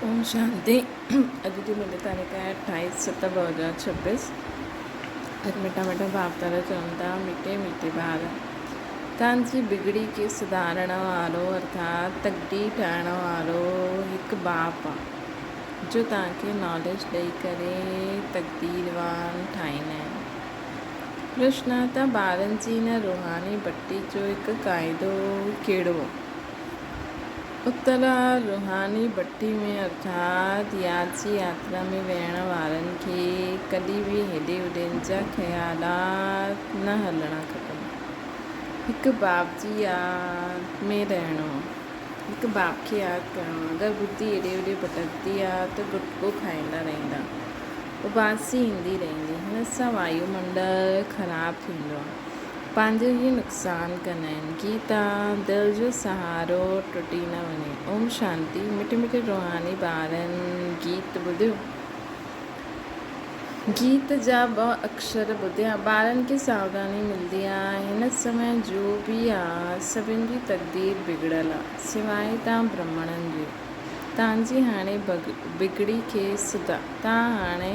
اوم شانتي اڄ جي منهنجي تاريخ آهي اٺائيس ست ٻه هزار ڇپيس اڄ مٺا مٺا ڀاوتار چون ٿا ميٺي ميٺي ٻار تان جي بگڙي کي سڌارڻ وارو ارٿات تڪڙي ٺاهڻ وارو هڪ باپ آ جو تان کي ناليج ڏئي ڪري تقديروان ٺاهيندا آهن روشناتا ٻارن جي ان روحاني بٽي جو هڪ قاعدو ڪهڙو اتلا روحاني ڀٽي ۾ ارٿات ياچي ياترا ۾ ويهڻ وارن کي ڪڏهن به هيڏي هوڏين جا خيالات نه هلڻا کپن. هڪ باب جي ياد ۾ رهڻو، هڪ باب کي ياد ڪرڻو، اگر بدي هيڏي هوڏي ڀٽڪندي آ ته گٽڪو کائيندا رهندا، اباسي ايندي رهندي، هن سان وايو منڊل خراب ٿيندو آ. پنهنجو هي نقصان ڪنائين ڪي تا دل جو سهارو ٽٽي نه وڃي. اوم شانتي مٺي مٺي روحاني ٻارن گيت ٻڌيو. گيت جا ٻه اڪشر ٻڌيا ٻارن کي ساوڌاني ملدي آ هن سمي جو به آ سڀن جي تقدير بگڙيل آ سواء تان برهمڻن جي تان جي هاڻي بگڙي کي سڌا تان هاڻي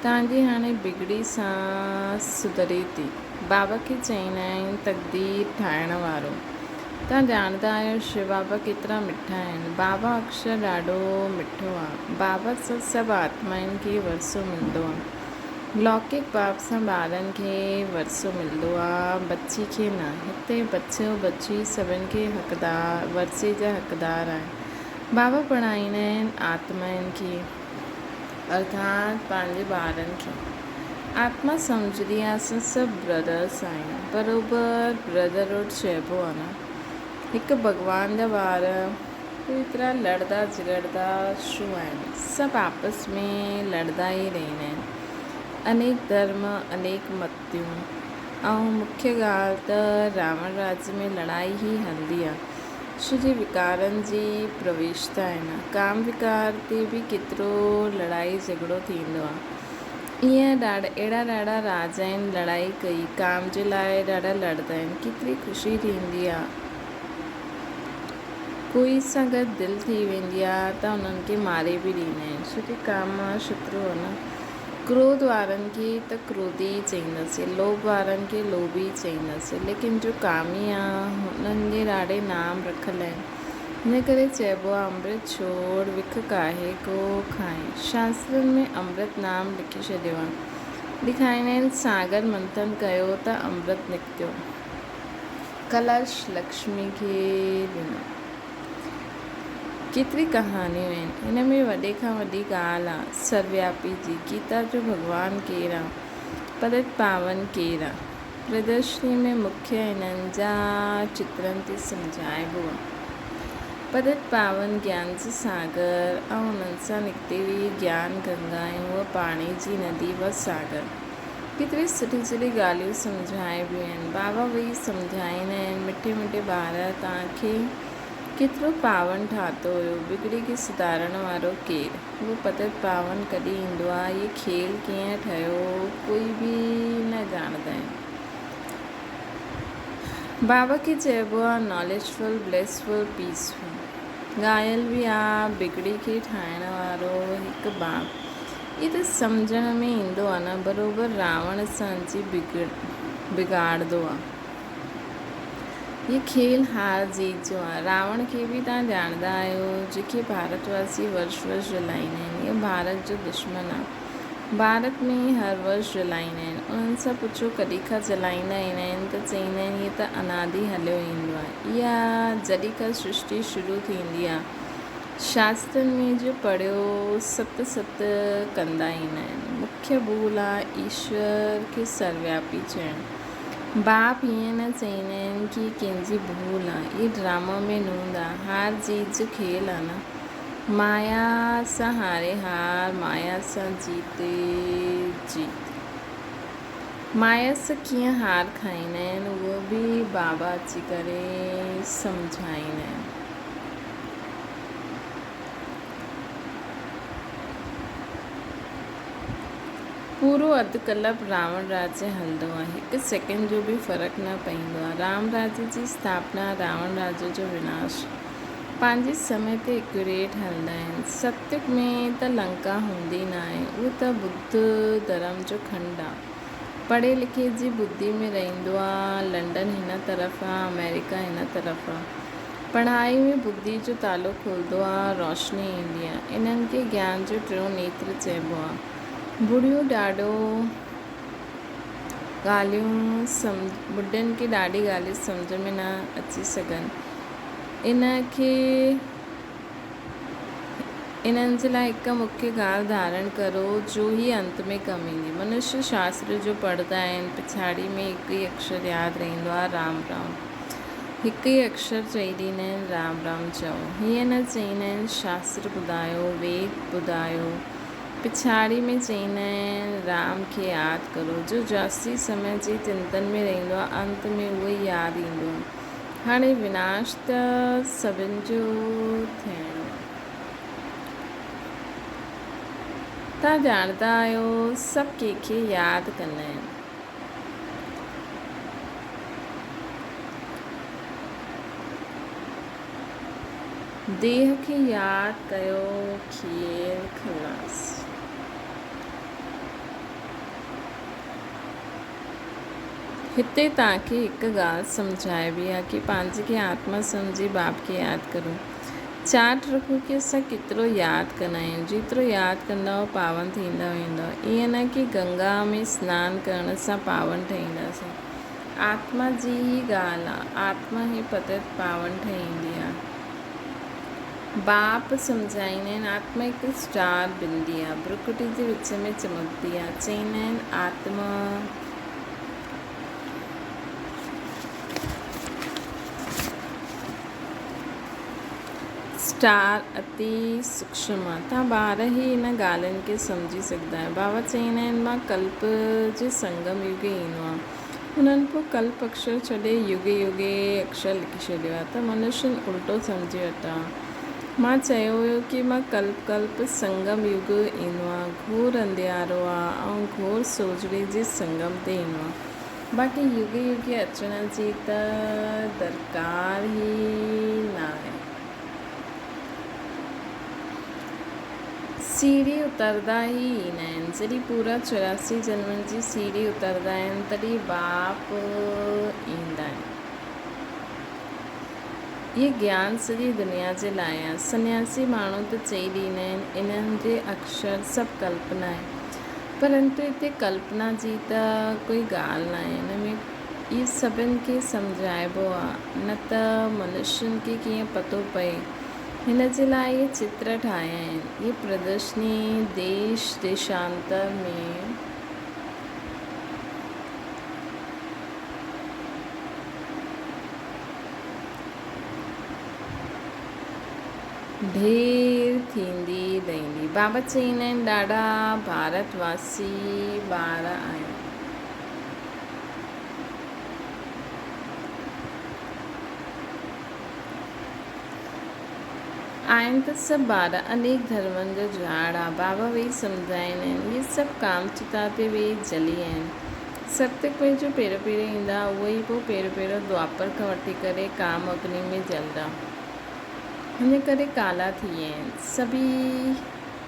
تانگي هاڻي بگڙي سان سڌري ٿي. بابا کي چئين آهين تقدير ٺاهڻ وارو. توهان ڄاڻندا آهيو شو بابا ڪيترا مٺا آهن. بابا اڪشر ڏاڍو مٺو آ. بابا سان سڀ آتمائن کي ورثو ملندو آ. لوڪڪ باب سان ٻارن کي ورثو ملندو آ ٻچي کي نه. هتي ٻچو ٻچي سڀن کي ورثي جا حقدار آهن. بابا پڙهائيندا آهن آتمائن کي. ارڌاڻ پنهنجي ٻارن کي آتما سمجهندي آهي اسان سڀ برادرس آهيون بروبر برادرهوڊ چئبو آهي نه هڪ ڀڳوان جا ٻار پوء ايترا لڙدا جهڳڙدا ڇو آهن سڀ آپس ۾ لڙدا ئي رهندا آهن انيڪ ڌرم انيڪ متيون ۽ مکيه ڳالهه ته راوڻ راڄ ۾ لڙائي ئي هلندي آهي عشق جي وڪارن جي پرويش ته آهن، ڪام وڪار تي به ڪيترو لڙائي جهڳڙو ٿيندو آهي. ايئن اهڙا ڏاڍا راز آهن، لڙائي ڪئي، ڪام جي لاء ڏاڍا لڙندا آهن، ڪيتري خوشي ٿيندي آهي، ڪوئي سان گڏ دل ٿي ويندي آهي ته انهن کي ماري به ڏيندا آهن، ڇو ڪي ڪام شترو آهي نه. ڪروڌ وارن کي ته ڪروڌي ئي چئينداسين، لوڀ وارن کي لوڀي ئي چئينداسين، ليڪن جو ڪامي آهن، انهن جي راڙي نام رکل آهن. ان ڪري چئبو آهي، امرت ڇوڙ، وک ڪاهي ڪو کائين. شاسترن ۾ امرت نام لکي ڇڏيو آهي. ڏيکاريندا آهن، ساگر منٿن ڪيو ته امرت نڪتو. ڪلش لڪشمي کي ڏنو. ڪيتري ڪهاڻيون آهن ان ۾ وڏي کان وڏي ڳالهه آ سروياپي جي گيتا جو ڀڳوان ڪير آ پرت پاون ڪير آ پردرشني ۾ مکيه انهن جا چترن تي سمجهائبو آ پرت پاون گيان جي ساگر ۽ انهن سان نڪتي ويئي گيان گنگا ۽ هوء پاڻي جي ندي و ساگر ڪيتري سٺي سٺي ڳالهيون سمجهائبيون آهن بابا ويهي سمجهائيندا آهن مٺي مٺي ٻار توهان کي ڪيترو پاون ٺاهتو هيو بگڙي کي سڌارڻ وارو ڪير هو پتت پاون ڪڏهن ايندو آهي هي کيل ڪيئن ٺهيو هو ڪوئي به نه ڄاڻندا آهن بابا کي چئبو آهي knowledgeful blissful peaceful ڳايل به آهي بگڙي کي ٺاهڻ وارو هڪ بابا هي ته سمجهڻ ۾ ايندو آ نه بروبر راوڻ سان جي بگاڙدو آ. هي کيل هار جيت جو آ. راوڻ کي به توهان ڄاڻندا آهيو جيڪي ڀارت واسي ورش ورش جلائيندا آهن هي ڀارت جو دشمن آ. ڀارت ۾ هي هر ورش جلائيندا آهن. انهن سان پڇو ڪڏهن کان جلائيندا ايندا آهن ته چئيندا آهن هي ته انادي هليو ايندو آ. اها جڏهن کان سرشتي شروع ٿيندي آ. شاسترن ۾ جو پڙهيو ست ست ڪندا ئي نه آهن. مکيه ڀول آهي ايشور کي سروياپي چئڻ. باپ ائين نه چئيندا آهن ڪي ڪن جي ڀول آهي. اهي ڊراما ۾ نوند آهي. هار جيت جو کيل آهي نه. مايا سان هاري هار، مايا سان جيتي جيت. مايا سان ڪيئن هار کائيندا آهن اهو به بابا اچي ڪري سمجهائيندا آهن. پورو اڌ ڪلپ راوڻ راج هلندو آهي. هڪ سيڪنڊ جو به فرق نه پئيندو آهي. رام راج جي اسٿاپنا، راوڻ راج جو وناش پنهنجي سمي تي ايڪيوريٽ هلندا آهن. ستي ۾ ته لنڪا هوندي نه آهي. اهو ته ٻڌ ڌرم جو کنڊ آهي. پڙهي لکي جي ٻڌي ۾ رهندو آهي. لنڊن هن طرف آهي، آمريڪا هن طرف آهي. پڙهائي ۾ ٻڌي جو تالو کلندو آ، روشني ايندي آ. انهن کي گيان جو ٽيون نيتر چئبو آ. ٻڍڙيون ڏاڍو ڳالهيون سمجهه، ٻڍڙين کي ڏاڍي ڳالهيون سمجهه ۾ نه اچي سگهن. انهن کي. انهن جي لاء هڪ مکيه ڳالهه ڌارڻ ڪرو جو هيء انت ۾ ڪم ايندي. منشيا شاستر جو پڙهندا آهن، پڇاڙيء ۾ هڪ ئي اڪشر ياد رهندو آهي، رام رام. هڪ ئي اڪشر چئي ڏيندا آهن، رام رام چئو. هيئن نه چئيندا آهن، شاستر ٻڌايو، ويد ٻڌايو. پڇاڙيء ۾ چئيندا آهن، رام کي ياد ڪرو. جو جاستي سمي جي چنتن ۾ رهندو آهي، انت ۾ اهو ئي ياد ايندو آهي. هاڻي وناش ته سڀن جو ٿيڻو آهي. توهان ڄاڻندا آهيو سڀ ڪنهن کي ياد ڪندا آهن. ديهه کي ياد ڪيو کير خلاص. هتي توهان کي هڪ ڳالهه سمجهائبي آ ڪي پنهنجي کي آتما سمجهي باب کي ياد ڪريون. چاٽ رکو ڪي اسان ڪيترو ياد ڪندا آهيون. جيترو ياد ڪندؤ پاون ٿيندا ويندؤ. ائين نه ڪي گنگا ۾ سنان ڪرڻ سان پاون ٺهينداسين. آتما جي ئي ڳالهه آ. آتما ئي پتت پاون ٺهيندي آ. باپ سمجهائين آهن، آتما هڪ اسٽار بندي آهي، برڪٽي جي وچ ۾ چمڪندي آهي، چئين آهن آتما. اسٽار اتي سوڪشم آهي، توهان ٻاهر ئي ان ڳالهين کي سمجهي سگهندا آهيو، بابا چئين آهن مان ڪلپ جي سنگم يوگ ايندو آهيان، انهن پوء ڪلپ اڪشر ڇڏي يگي يگي اڪشر لکي ڇڏيو آهي ته منشين الٽو سمجهي وٺان. مان چيو هيو ڪي مان ڪلپ ڪلپ سنگم يگ ايندو آهي گهور انڌيارو آهي ۽ گهور سوجهڙي جي سنگم تي ايندو آهي باقي يگي يگي اچڻ جي ته درڪار ئي ناهي. سيڙهي اتردا ئي ايندا آهن. جڏهن پورا چوراسي جنمن جي سيڙهي اتردا آهن، تڏهن باپ ايندا آهن. هي گيان سڄي دنيا جي لاء آهي. سنياسي ماڻهو ته چئي ڏيندا آهن، انهن جي اڪشر سڀ ڪلپنا آهي. پرنتو هتي ڪلپنا جي ته ڪوئي ڳالهه ناهي. هن ۾ اهي سڀن کي سمجهائبو آهي، نه ته منشين کي ڪيئن پتو پئي. هن جي لاء اهي چتر ٺاهيا آهن. هيء پردرشني ديش ديشانتر ۾ ڍير ٿيندي رهندي. بابا چين آهن ڏاڍا ڀارت واسي ٻار آهن. آهن ته سڀ ٻار انيڪ ڌرمن جا جهاڙا بابا ويهي سمجهائين آهن. اهي سڀ ڪام چتا تي ويهي جلي آهن. ستسنگ ۾ جو پيرو پيرو ايندا، اهي ئي پوء پيرو پيرو دوئاپر کان وٺي ڪري ڪام اگني ۾ جلدا. هن ڪري ڪالا ٿي ويا آهن. سڀ ئي.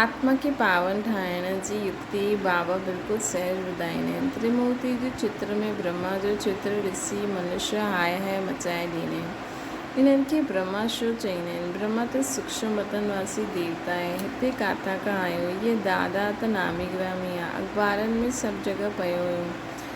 آتما کي پاون ٺاهڻ جي يڪتي بابا بلڪل سهج ٻڌائين ۽ تريمورتي جي چتر ۾ برهما جو چتر ڏسي منش هاء هاء مچائي ڏين ۽ انهن کي برهما شو چئين ۽ برهما ته سوڪشم وتن واسي ديوتا ۽ هتي ڪاٿان کان آيو هيء دادا ته نامي گرامي آ اخبارن ۾ سڀ جڳهه پيو هيون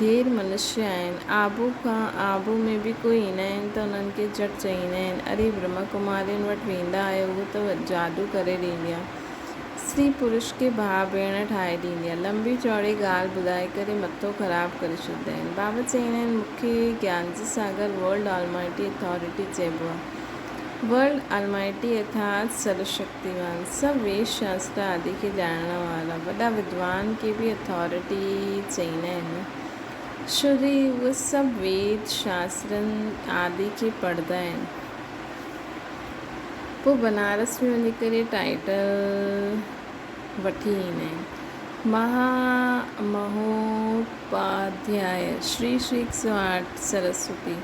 ڍير منشيا آهن. آبو کان آبو ۾ به ڪوئي ايندا آهن ته انهن کي جٽ چئيندا آهن. اري برهما ڪمارين وٽ ويندا آهيو هو ته جادو ڪري ڏيندي آهي. سري پرش کي ڀاء ڀيڻ ٺاهي ڏيندي آهي. لنبي چوڙي ڳالهه ٻڌائي ڪري مٿو خراب ڪري ڇڏيندا آهن. بابا چئيندا آهن مون کي گيان جي ساگر ورلڊ آلمائٽي اٿارٽي چئبو آهي. ورلڊ آلمائٽي اٿارٽ سرشڪت. ديوان، سڀ ويد شاستر آدي کي ڄاڻڻ وارا وڏا ودوان کي به اٿارٽي چئيندا آهن ڇو جو اهي سڀ ويد شاسترن آدي کي پڙهندا آهن پوء بنارس ۾ وڃي ڪري ٽائيٽل وٺي ايندا آهن مها مهوپاڌياء شري شريڪ سواٽ سرسوتي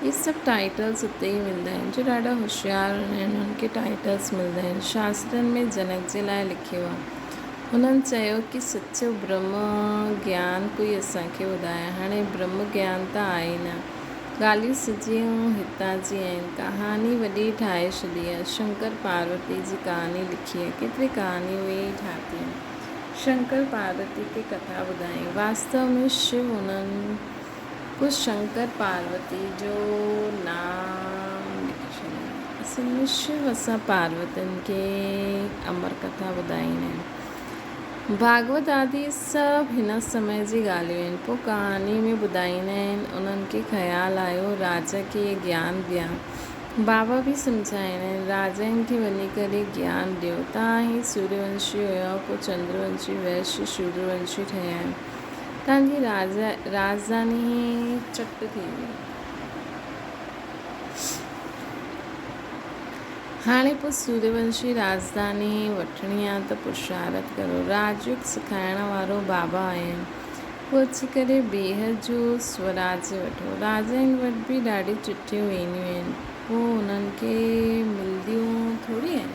اهي سڀ ٽائيٽلز اتي ئي ملندا آهن جو ڏاڍا هوشيار هوندا آهن انهن کي ٽائيٽلز ملندا آهن. شاسترن ۾ جنڪ جي لاء لکيو آهي. هنن چيو ڪي سچو برهمه گيان ڪوئي اسان کي ٻڌائي. هاڻي برهمه گيان ته آهي ئي نه. ڳالهيون سڄيون هتان جي آهن. ڪهاڻي وڏي ٺاهي ڇڏي آهي. شنڪر پاروتي جي ڪهاڻي لکي آهي. ڪيتري ڪهاڻيون اهي ئي ٺاهتيون آهن. شنڪر پاروتي کي ڪٿا ٻڌايون. واستو ۾ شو انهن. ڪو شنڪر پاروتي جو نام لکجي. اصل شو اسان پاروتين کي امر ڪٿا ٻڌائين آهن. ڀاڳوت آدي سڀ هن سمي جي ڳالهيون آهن. پوء ڪهاڻي ۾ ٻڌائيندا آهن. انهن کي خيال آيو راجا کي گيان ڏيان. بابا به سمجهائيندا آهن راجائن کي وڃي ڪري گيان ڏيو. تان هي سوريونشي هيا پوء چندرونشي، ويش، شودرونشي ٺهيا آهن. تان جي راڄڌاني چٽ ٿيندي. هاڻي پوء سوريونشي راڄڌاني وٺڻي آ ته پرشارت ڪرو. راڄيوگ سکائڻ وارو بابا آهين. پوء اچي ڪري بيهه جو سوراڄ وٺو. راجائن وٽ به ڏاڍيون چٽيون وينديون آهن. پوء انهن کي ملنديون ٿوري آهن.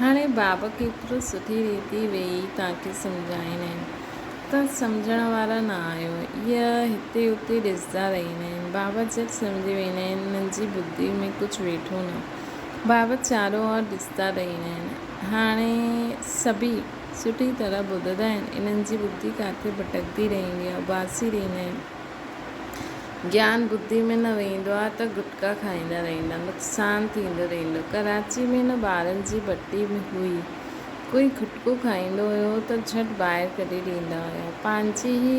هاڻي باب ڪيترو سٺي ريتي ويهي تانکي سمجهائيندا آهن ته سمجهڻ وارا نه آهيو. اهي هتي اتي ڏسندا رهيندا آهن. باب جهٽ سمجهي ويندا آهن انهن جي بدي ۾ ڪجهه ويٺو نه. باب چارو اور ڏسندا رهيندا آهن. هاڻي سڀئي سٺي طرح ٻڌندا آهن انهن جي بدي ڪاٿي ڀٽڪندي رهندي آهي. اباسي رهيندا آهن. گيان ٻڌي ۾ نه ويهندو آهي ته گٽڪا کائيندا رهيندا نقصان ٿيندو رهيندو ڪراچي ۾ نه ٻارن جي بٽي هئي ڪوئي گٽڪو کائيندو هيو ته جهٽ ٻاهر ڪڍي ڏيندا هيا پنهنجي هي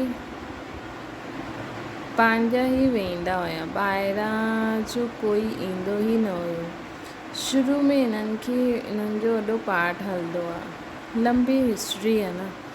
پنهنجا هي ويهندا هيا ٻاهران جو ڪوئي ايندو هي نه هيو شروع ۾ هنن کي هنن جو وڏو پارٽ هلندو آهي لمبي هسٽري آهي نه.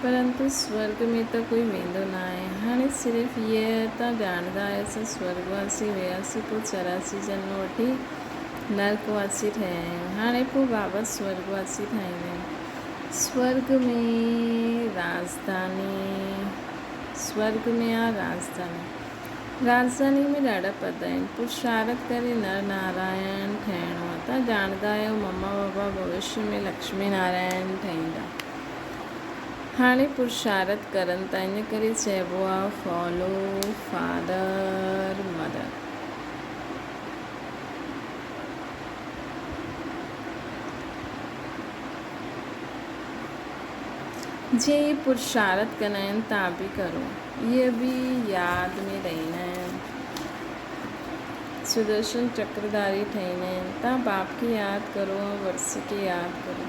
پرنتو سورڳ ۾ ته ڪوئي ويندو نه آهي. هاڻي صرف هيء ته ڄاڻندا آهيوسين سورڳ واسي هياسين پوء چوراسي جنم وٺي نرڪ واسي ٺهيا آهيون. هاڻي پوء بابا سورڳ واسي ٺاهيندائين. سورڳ ۾ راڄڌاني سورڳ ۾ آ راڄڌاني. راڄڌاني ۾ ڏاڍا پد آهن. پرشارٿ ڪري نر نارائڻ ٺهڻو آ. تان ڄاڻندا آهيو مما بابا ڀوشيء ۾ لڪشمي نارائڻ ٺهيندا. هاڻي پرشارت ڪرن ٿا ان ڪري چئبو آ فالو فادر مدر. جي پرشارت ڪندا آهن تان به ڪرو اهي به ياد ۾ رهندا آهن سدرشن چڪرداري ٺهندا آهن تان باپ کي ياد ڪرو ۽ ورسي کي ياد ڪرو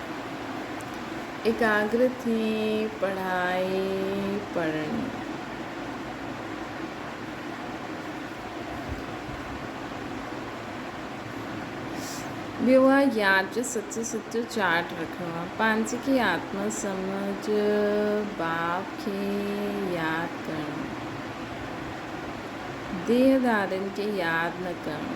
ايڪاگر ٿي پڙهائي پڙهڻي. ٻيو آهي يار جو سچو سچو چاٽ رکڻو آهي پنهنجي کي آتم سمجھ باپ کي ياد ڪرڻو ديهدارين کي ياد نه ڪرڻو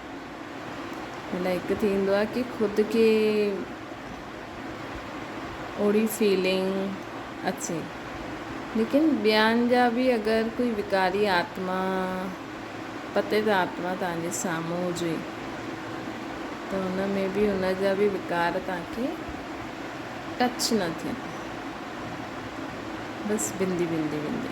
مطلب هڪ ٿيندو آهي ڪي خود کي اوڙي فيلنگ اچي ليڪن ٻين جا به اگر ڪوئي وڪاري آتما پتيت آتما تان جي سامهون هجي ته ان ۾ به ان جا به وڪار تان کي ٽچ نه ٿين بس بندي بندي بندي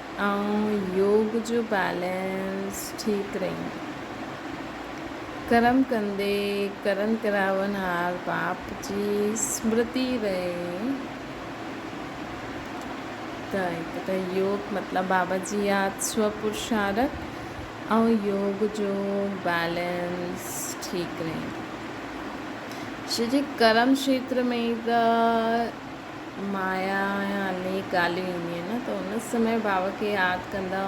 ۽ يوگ جو بيلنس ٺيڪ رهندو. ڪرم ڪندي ڪرن ڪراوڻهار باپ جي اسمرتي رهي ته هڪ ته يوگ مطلب بابا جي ياد سوء پرشارٿ ۽ يوگ جو بيلنس ٺيڪ رهندو. شريڪ ڪرم کيتر ۾ ته مايا ۽ علمي ڳالهيون اينديون آهن ته ان سمي بابا کي ياد ڪندا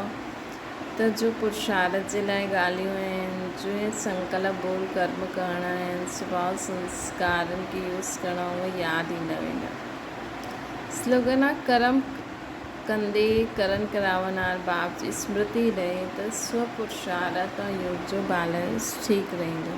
ته جو پرشارٿ جي لاء ڳالهيون آهن، جوئين سنڪلپ بول ڪرم ڪرڻا آهن، سڀاو سنسڪارن کي يوس ڪرڻا اهي ياد ايندا ويندا. سلوگن آهي ڪرم ڪندي ڪرن ڪراونهار باب جي اسمرتي رهي ته سو پرشارٿ ۽ يوس جو بئلنس ٺيڪ رهندو.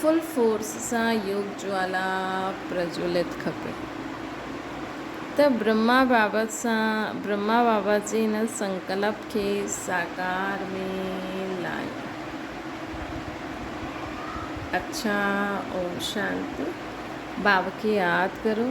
فل فورس سان يوگ جوالا پرجولت کپي ته برهما بابت سان برهما بابت جي هن سنڪلپ کي ساڪار ۾ لايون. اڇا اوم شانتي. بابا کي ياد ڪرو.